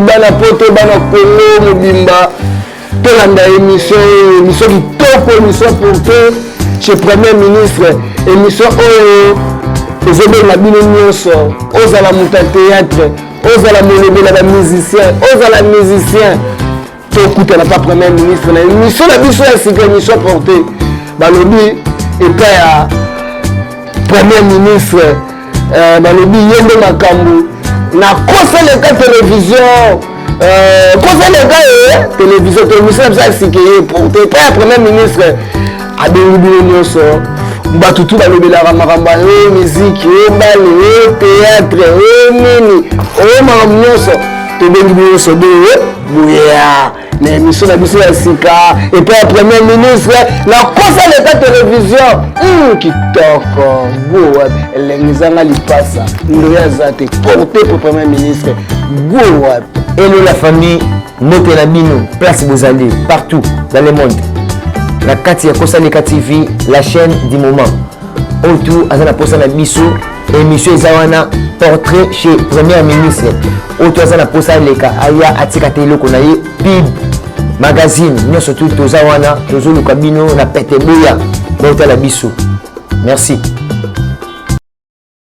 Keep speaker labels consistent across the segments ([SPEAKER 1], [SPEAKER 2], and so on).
[SPEAKER 1] bana poto bana kongo mobimba tolanda émission oyo émission kitoko émission porte chez premier ministre émission oyo ezobenga bino nyonso ozala moto ya théâtre ozala molobi na bamusicien ozala musicien tokutanaka premier ministre na emission na biso ya sika emission porte balobi epai ya premier ministre euh, balobi ye nde makambo na koseleka televizio euh, koseleka ye televizio to emission na biso ya sika ye porte epai ya premier ministre abengi bino nyonso bato tu balobelaka makambo ya miziki o bale o teatre o nini o makambo nyonso tobengi bino nyonso boye boyea na émission na biso ya sika epai ya premier ministre nakosa leta televizio hmm, kitoko goa elengi ezanga lipasa ndoye aza te porte po premier ministre goa elo la
[SPEAKER 2] famille mbote na bino place bozali partout dans le monde na kati ya kosaleka tv la chaîne du moment oyo tu aza na posa na biso émission eza wana portrait chez première ministre oyo tu aza na posa aleka aya atika te eloko na ye pib magazine nyonso tu toza wana tozoluka bino na pete boya botala biso merci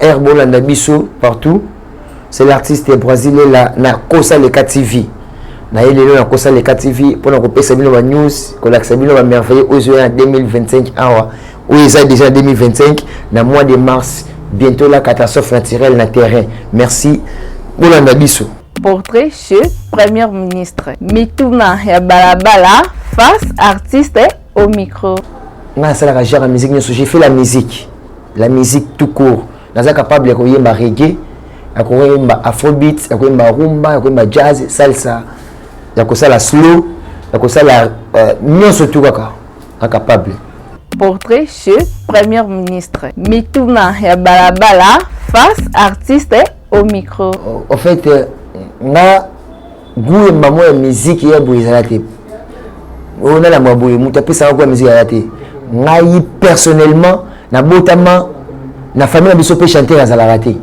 [SPEAKER 2] Air bolanda biso partout. C'est l'artiste brésilien la na Kosa Leka TV. Na ye lelo na Kosa Leka TV pona ko pesa bino ba news, ko lakisa bino ba merveilleux ozo ya 2025 awa. Oyo eza déjà 2025 na mois de mars bientôt la catastrophe naturelle na terrain. Merci. Bolanda biso. Portrait chez
[SPEAKER 3] Premier ministre. Mituna ya balabala face artiste au micro nga nasalaka genre ya
[SPEAKER 2] musique nyonso j'ai fait la musique la musique tout court naza capable ya koyemba reggae ya koyemba afrobeat ya koyemba rumba ya koyemba jazz salsa ya kosala slow ya kosala euh, nyonso tu kaka na capable portrait
[SPEAKER 3] chez première ministre mituna ya balabala face artiste au micro au fait
[SPEAKER 2] euh, nga gout ya mbamo ya miziki ya boye ezala te oyo nalamba boye moto apesaka gout ya miziki ezala te ngai personnellement nabotama na famille na biso mpe chanteur azalaka te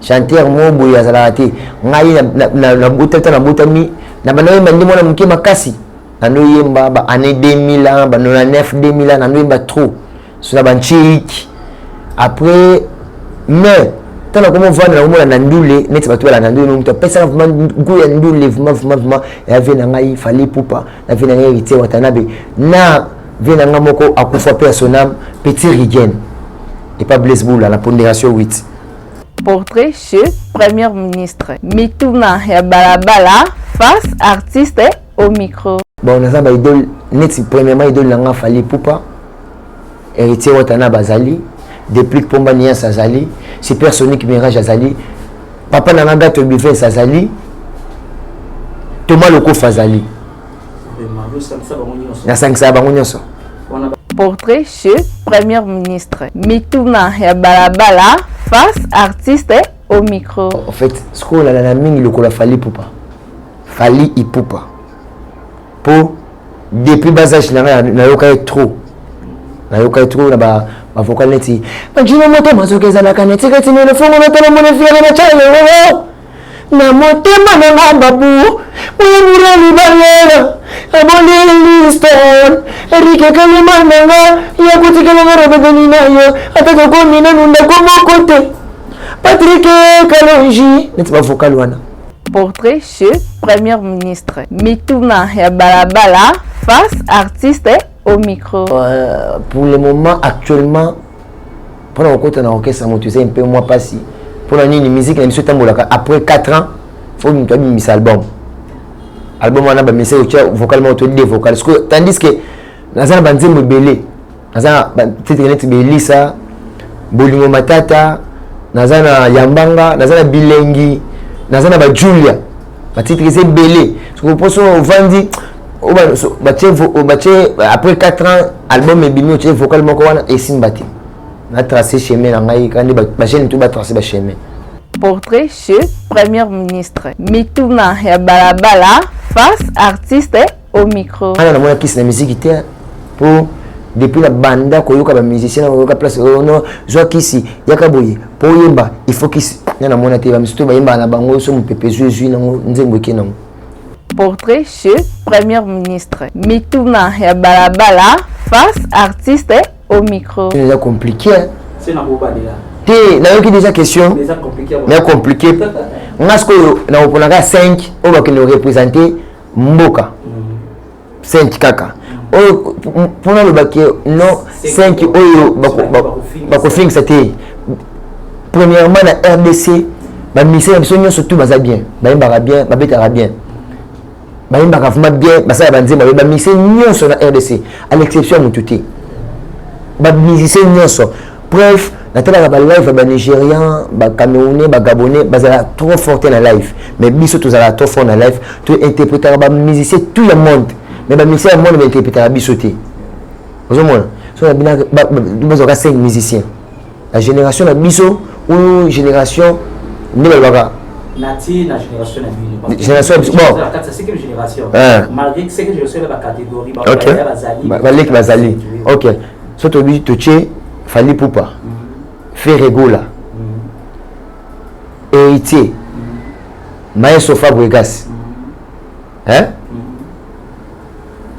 [SPEAKER 2] chanteur moko boye azalaka te ngai nabotata nabotami na banaoyemba nde mwana moke makasi nanoyemba ba année 2000 bano na 9 2000 nanoyemba trop suna banchiki après mais ntango nakomi ovanda na komona na ndule neti bato balanda ndule no moto apesaka vraimen go ya ndule vraimen vraimen vraimen ya vie na ngai fali pupa na vie na ngai héritier watanabe na vie na ngai moko akufa mpe ya sonam petit rigen epa blaise bula na ponderation 8 portrait
[SPEAKER 3] chez première ministre mituna ya balabala face artiste au micro bon naza ba idole
[SPEAKER 2] neti premièrement idole na nga fali pupa héritier watana bazali deplic pomba nias azali super sonic mirage azali papa na nga gato bivens azali toma lokofa azali nasangisaka bango nyonso
[SPEAKER 3] portrait chez première ministre mituna ya balabala face artiste au micro en fait sikoyo
[SPEAKER 2] olalana mingi lokola fali pupa Fally Ipupa po depuis bas âge na nga nayoka ye trop nayoka ye trop na ba ba vocal neti majino moto mazoka ezalaka na tika tina le fongo na tala mona fiere na chale wo na motema na nga babu oyo murali balela aboli liston erike kalima na nga yakotikela nga robebeni na yo ata tokomi nanu ndako moko te patrike kalonji neti ba vocal wana Portrait
[SPEAKER 3] chez Premier ministre. Mituna ya balabala face artiste au micro. Euh, pour le
[SPEAKER 2] moment actuellement pour la rencontre na orchestre moto eza mpe mwa mpasi mpo na nini musique na biso etambolaka après 4 ans fo moto abimisa album album wana bamisa otya vocal moko to de vocal tandis que naza na banzembo ebele naza na batitre neti belisa bolingo matata naza na yambanga naza na bilengi naza na bajulia batitre eza ebele soki mposo ovandi batie après 4 ans album ebimi otie vocal moko wana esimba te natrace chemin na ngai kandi bagene to batrace bachemin portrait
[SPEAKER 3] chez première ministre mituna ya balabala face artiste au micro ana na mona kisi na musique
[SPEAKER 2] te po depuis na banda koyoka ba musicien koyoka place oh non zwa kisi yaka boye po yemba il faut kisi na na mona te ba misusu bayemba na bango so mupepe zwi zwi nango nzembo eke nango portrait
[SPEAKER 3] chez premier ministre mituna ya balabala face artiste au micro eza compliqué c'est
[SPEAKER 2] na
[SPEAKER 4] bobalela te nayoki déjà
[SPEAKER 2] question mais
[SPEAKER 4] compliqué
[SPEAKER 2] nga sikoyo nakoponaka 5 oyo bakende korepresente mboka 5 kaka oyo mpona aloba ke non 5 oyo bakofingisa te premièrement na rdc bamisele na biso nyonso tu baza bien bayembaka bien babetaka bien bayembaka vraimen bien basala banzemba baye bamise nyonso na rdc à l'exception ya motu te bamusicien nyonso preuve natalaka ba live ya ba nigérian ba camerounais ba gabonais bazala trop fort te na live mais biso tozalaka trop fort na live to interpretaka ba musicien tout le monde mais ba musicien ya monde ba interpretaka biso te ozomona so na bina bazwaka 5 musicien la génération na biso ou génération nde balobaka natie na
[SPEAKER 4] génération na bino génération bon cinquième génération malgré
[SPEAKER 2] cinquième génération
[SPEAKER 4] ya ba catégorie baleki
[SPEAKER 2] bazali ok so tobi totie fali pupa feregola mm. héritier mm. maestro fabregas mm. hein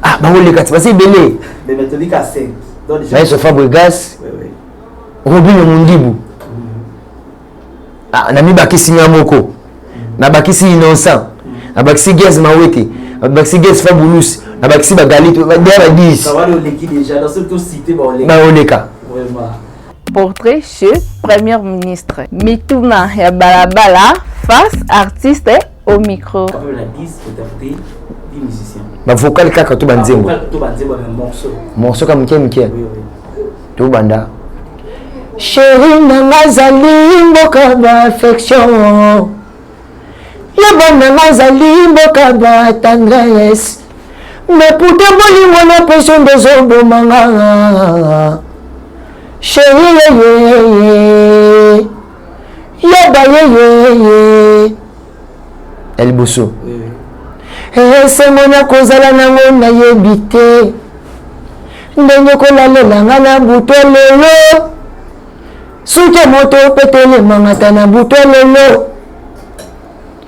[SPEAKER 2] ah bango lekati basi ebele
[SPEAKER 4] maestro fabregas
[SPEAKER 2] robino mundibu ah, namibakisi nga moko nabakisi innocent nabakisi gaz mawete nabakisi gaz fabulus nabakisi bagalite deya ba 10
[SPEAKER 4] baoleka
[SPEAKER 2] portrait
[SPEAKER 3] chez première ministre mituna ya balabala face artiste au micro
[SPEAKER 4] ba vocal kaka to
[SPEAKER 2] banzembo
[SPEAKER 4] morceau kaka moke moke tobanda
[SPEAKER 2] sheri nanga azali mboka baaffection ya bananga azali mboka ba tendresse mais pourtant bolingo na pression dezobomanga sheri yeyeye yoba yeyeye ya liboso esengo eh, na kozala nango nayebi te ndenge kolalela nga na buto lelo suki moto petelemangata na buto lelo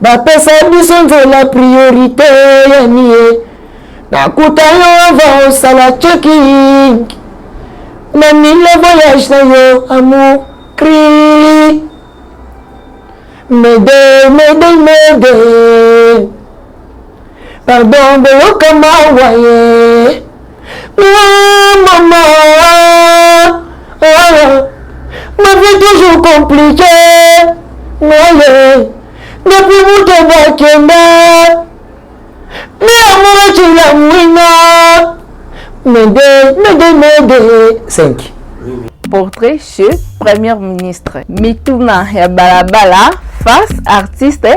[SPEAKER 2] bapesa biso nzela priorite ya nie nakuta yo ava osala checking na mile voyage na yo amour cri mede mede mede Pardon boyoka mawa ye ah, mama ah, ma vie toujours compliqué maye depuis moto bakenda nde amoraki la mwina mede mede mede 5 portrait
[SPEAKER 3] chez première ministre mituna ya balabala face artiste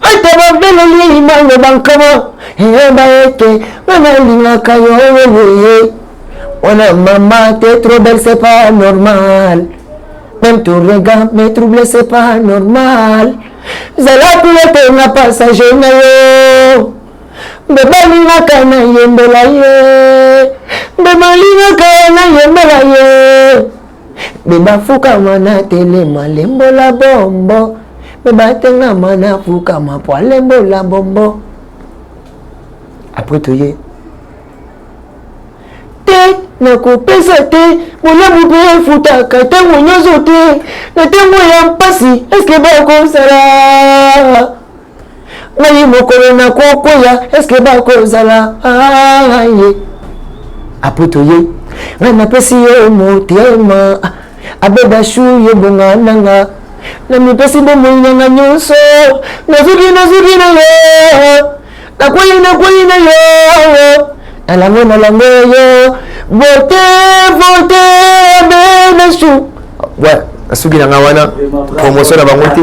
[SPEAKER 2] ata babeleli maloba nkama yeba ete nga nalingaka yo yeye wana mama te trop belle c'est pas normal même ton regard me trouble c'est pas normal zala kulete na passage na yo mbe balingaka na yembela ye mbe balingaka na yembela ye Bebafukama na telema lembola bombo bebatengama na fukama po alembola bombo apres toye te nakopesa te bolamu mpe efutaka ntango nyonso te na ntango ya mpasi eske bakosala ngai mokolo nakokwea eske bakozala aye apres toye ngai napesi yo motema abebashu yo bonga nanga namipesi bomoi nanga nyonso nazuki nazuki na yo nakwei nakwei na yo nalango nalango yo vote vote abebashu nasuki nanga wana promotion na bango te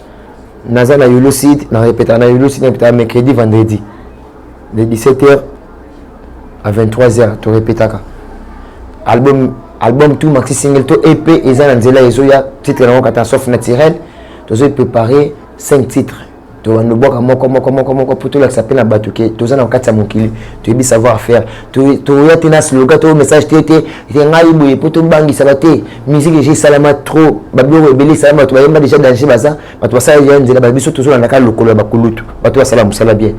[SPEAKER 2] naza na yulu sud na repetaka na yulu sud na repetaka mercredi vendredi de 17 heures à 23 heures to repetaka album album tout maxi single to ep eza na nzela ezoya titre yango catastrophe naturelle tozoi préparer 5 titres tobanda obwaka moko moko moko moko mpo tolakisa mpe na bato ke toza na kati ya mokili toyebi savoir faire toya te na sloga to message te te te ngai boye mpo tobangisaka te musique deja esalama trop babiloko ebele esalama bato bayemba deja danger baza bato basala deja nzela ba biso tozolandaka lokolo ya bakulutu bato basala mosala bien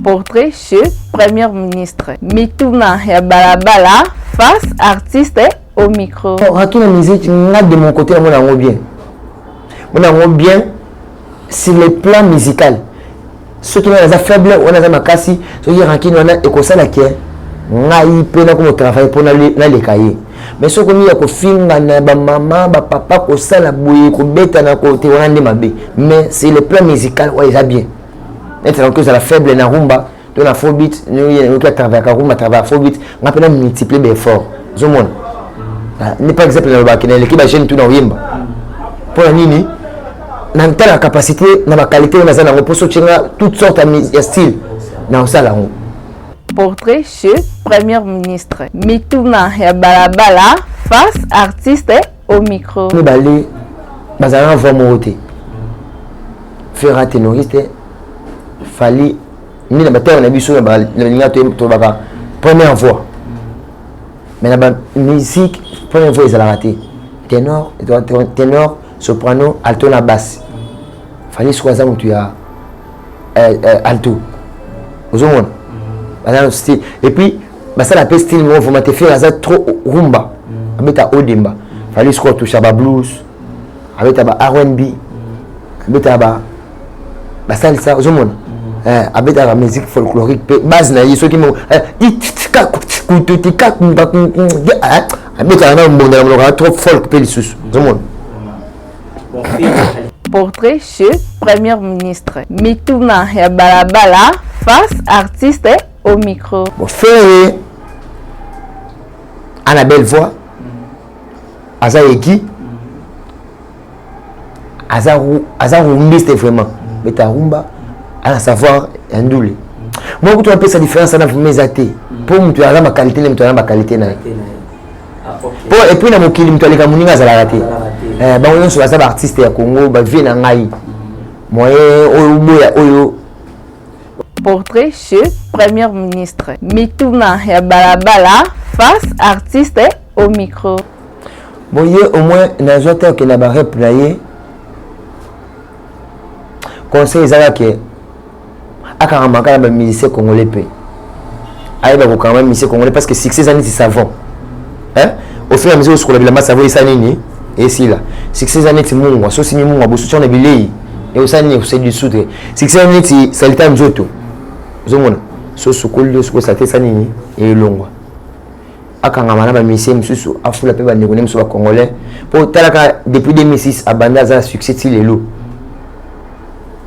[SPEAKER 2] portrait
[SPEAKER 3] chez première ministre mituna ya balabala face artiste au micro raki na musique
[SPEAKER 2] nga de mon côté namona yango bien mona yango bien sur le plan musical soki ngai naza faible wana aza makasi soki rankine wana ekosala ke ngai mpe nakoma travaille mpo naleka ye mais soki okomi ya kofingana bamama bapapa kosala boye kobetana kote wana nde mabe mais c'est le plan musical oyo eza bien neti nakoki ozala faible na rumba to na fobit oyoki atravayaka rumba travaya fobit ngai mpe na multiplie baeffort ozomona ah, nde par exemple nalobaki na eleki bajeune tu na oyemba mpo na nini na ntala capacité na ba qualité oyo naza nango mposo otye nga toute sorte ya style na osala yango portrait
[SPEAKER 3] chez première ministre mituna ya balabala face artiste au micro mibale
[SPEAKER 2] bazala na voix moko te fera tenoriste fali nde na batema na biso na balinga tolobaka première voix mais na bamusique première voix ezalaka te tenor tenor soprano alto na basse fali soko aza motu ya eh, eh, alto ozomona mhm. baza na style et puis basala mpe style moko vraimen te fere aza trop rumba mhm. abeta odemba mhm. fali soko atoucha ba blues abeta ba rnb abeta ba basalisa ozomona mm. eh, abetaka musique folklorique mpe base na ye soki eh, eh, abetaka na mbonda na monoko ya trop folk mpe lisusu ozomona
[SPEAKER 3] portrait chez première ministre mituna ya balabala face artiste au micro bofere
[SPEAKER 2] ana belle voix aza eki aza aza rumbiste vraiment mm. beta rumba ana savoir ya ndule mm. moi kutu napesa différence ana vrima eza te mpo mm. moto aza bakalite nde moto aza bakalite na ye mpo ah, epuis na mokili moto aleka moninga azalaka te eh, bango nyonso baza baartiste ya congo bavie na ngai moyen oyo oboya oyo
[SPEAKER 3] portrait chez première ministre mituna ya balabala face artiste au micro bon ye
[SPEAKER 2] au moins nazwa te okende na barep na ye conseil ezalaka ke akanga maka na bamusicien congolais mpe ayeba kokanga bamusicien congolais parce que succès eza neti savon hein? ofila miso osukola bilamba savon esa nini esila succès eza neti mungwa so osimi mungwa bosuti wana bilei eosa nini ekosali lisusu te succès eza neti salite ya nzoto ozomona so osukoli osukoli salite esa nini elongwa akangama na bamisie mosusu afula mpe bandeko ne mosusu bacongolais mpo otalaka depuis 2006 abandi aza na succès ti lelo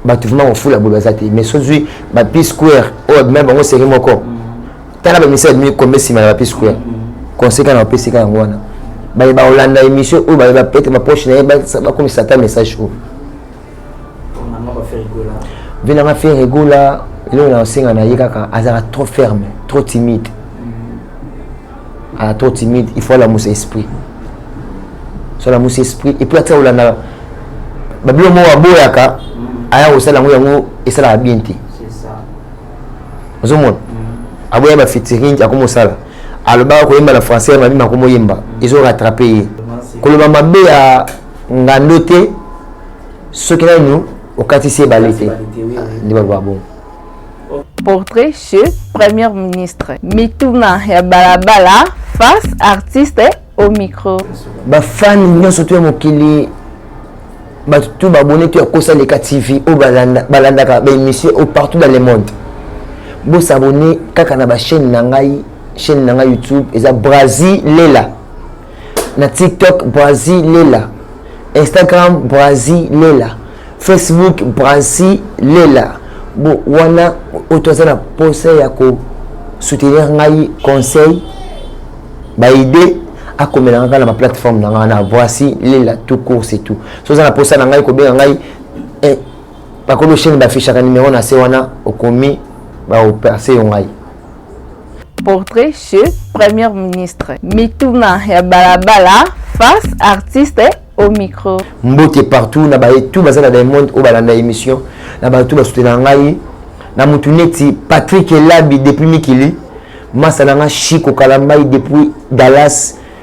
[SPEAKER 2] bato vraimen kofula boye baza te mais sozwi bapi square oyo abima bango seri moko tala bamisie abimi kombe nsima na bapi square conseil kana bapesi ka yango wana baye bakolanda émission oyo baye bapete bapoche na ye bakomisa ata message oyo vie nanga ferre egola eloko na osenga na ye kaka azalaka trop ferme trop timide mm. aza trop timide il faut alamusa esprit so alamusa esprit epuis atika kolanda babilo moko aboyaka mm. aya kosala yango yango esalaka bien te ozomona mm. aboya bafitiring akomosala alobaka koyemba na français ya mabima akomoyemba ezorattrape ye koloba mabe ya ngando te soki nanu okatisi ebale te nde baloba bongo
[SPEAKER 3] portrait chez premier ministre mituna ya balabala face artiste au micro bafani
[SPEAKER 2] nyonso to ya mokili bato to babone to ya kosa leka tv oyo balandaka baémission oyo partout dans le monde bosabone kaka na bachaîne na ngai chaîne na ngai youtube eza brazi lela na tiktok brasilela instagram brasilela facebook brasilela bo wana oyo toza na posa ya kosoutenir ngai conseil baide akomelaka ngai na baplateforme na ngai na voici lela tout course et tout so oza na posa na ngai kobenga ngai eh, bakolo chaine bafichaka numero na se wana okomi baoperse yo ngai
[SPEAKER 3] Portrait chez Premier ministre. Mituna ya balabala face artiste au micro. Mbote partout
[SPEAKER 2] na baye tout baza na Diamond oyo balanda émission na baye tout basutena ngai na mutu neti Patrick Elabi depuis Mikili masa na nga Chico Kalambayi depuis Dallas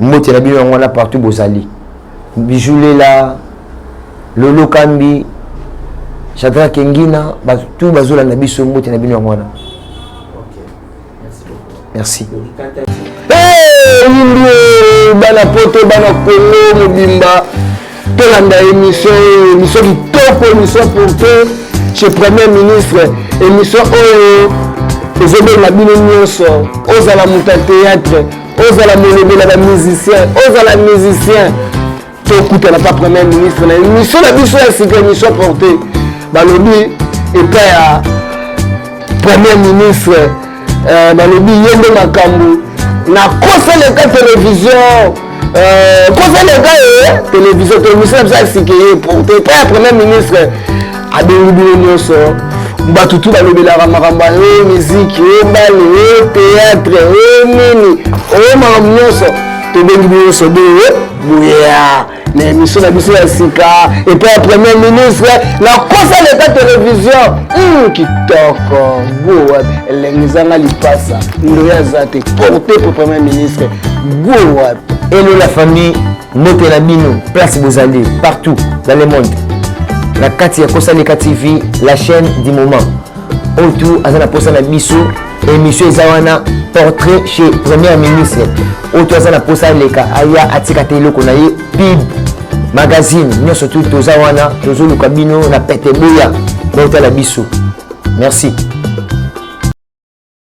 [SPEAKER 2] mbote na bino yango wana partout bozali bijulela lolo kambi chadra kengina tout bazolanda biso mbote na bino yango wana merci oyimbi
[SPEAKER 1] hey, bana poto bana kongo mobimba tolanda émission oyo émission kitoko émission pourte chez premier ministre émission oyo ezobenga bino nyonso ozala moto ya théâtre ozala molobela ba musicien ozala musicien tokutana pa premier ministre na émission na biso ya sika émission porte balobi epai ya premier ministre euh, balobi ye nde makambo nakosaleka télévision euh, kosaleka ye télévision télévision na biso ya sika ye porte epai ya premier ministre abengi bino nyonso bato tu balobelaka makambo ya o miziki o bale o teatre o nini o makambo nyonso tobengi bino nyonso boye boyeya na émission na biso ya sika epai ya premier ministre nakosa leta televizio hmm, kitoko goa elengi ezanga lipasa ndoya aza te porte po premier ministre goa elo la
[SPEAKER 2] famille mbote na bino place bozali partout dans le monde na kati ya kosaleka tv la chaîne du moment oyo tu aza na mposa na biso émission eza wana portrait chez première ministre oyo tu aza na mposa aleka aya atika te eloko na ye pib magazine nyonso tu toza wana tozoluka bino na pete boya baotala biso merci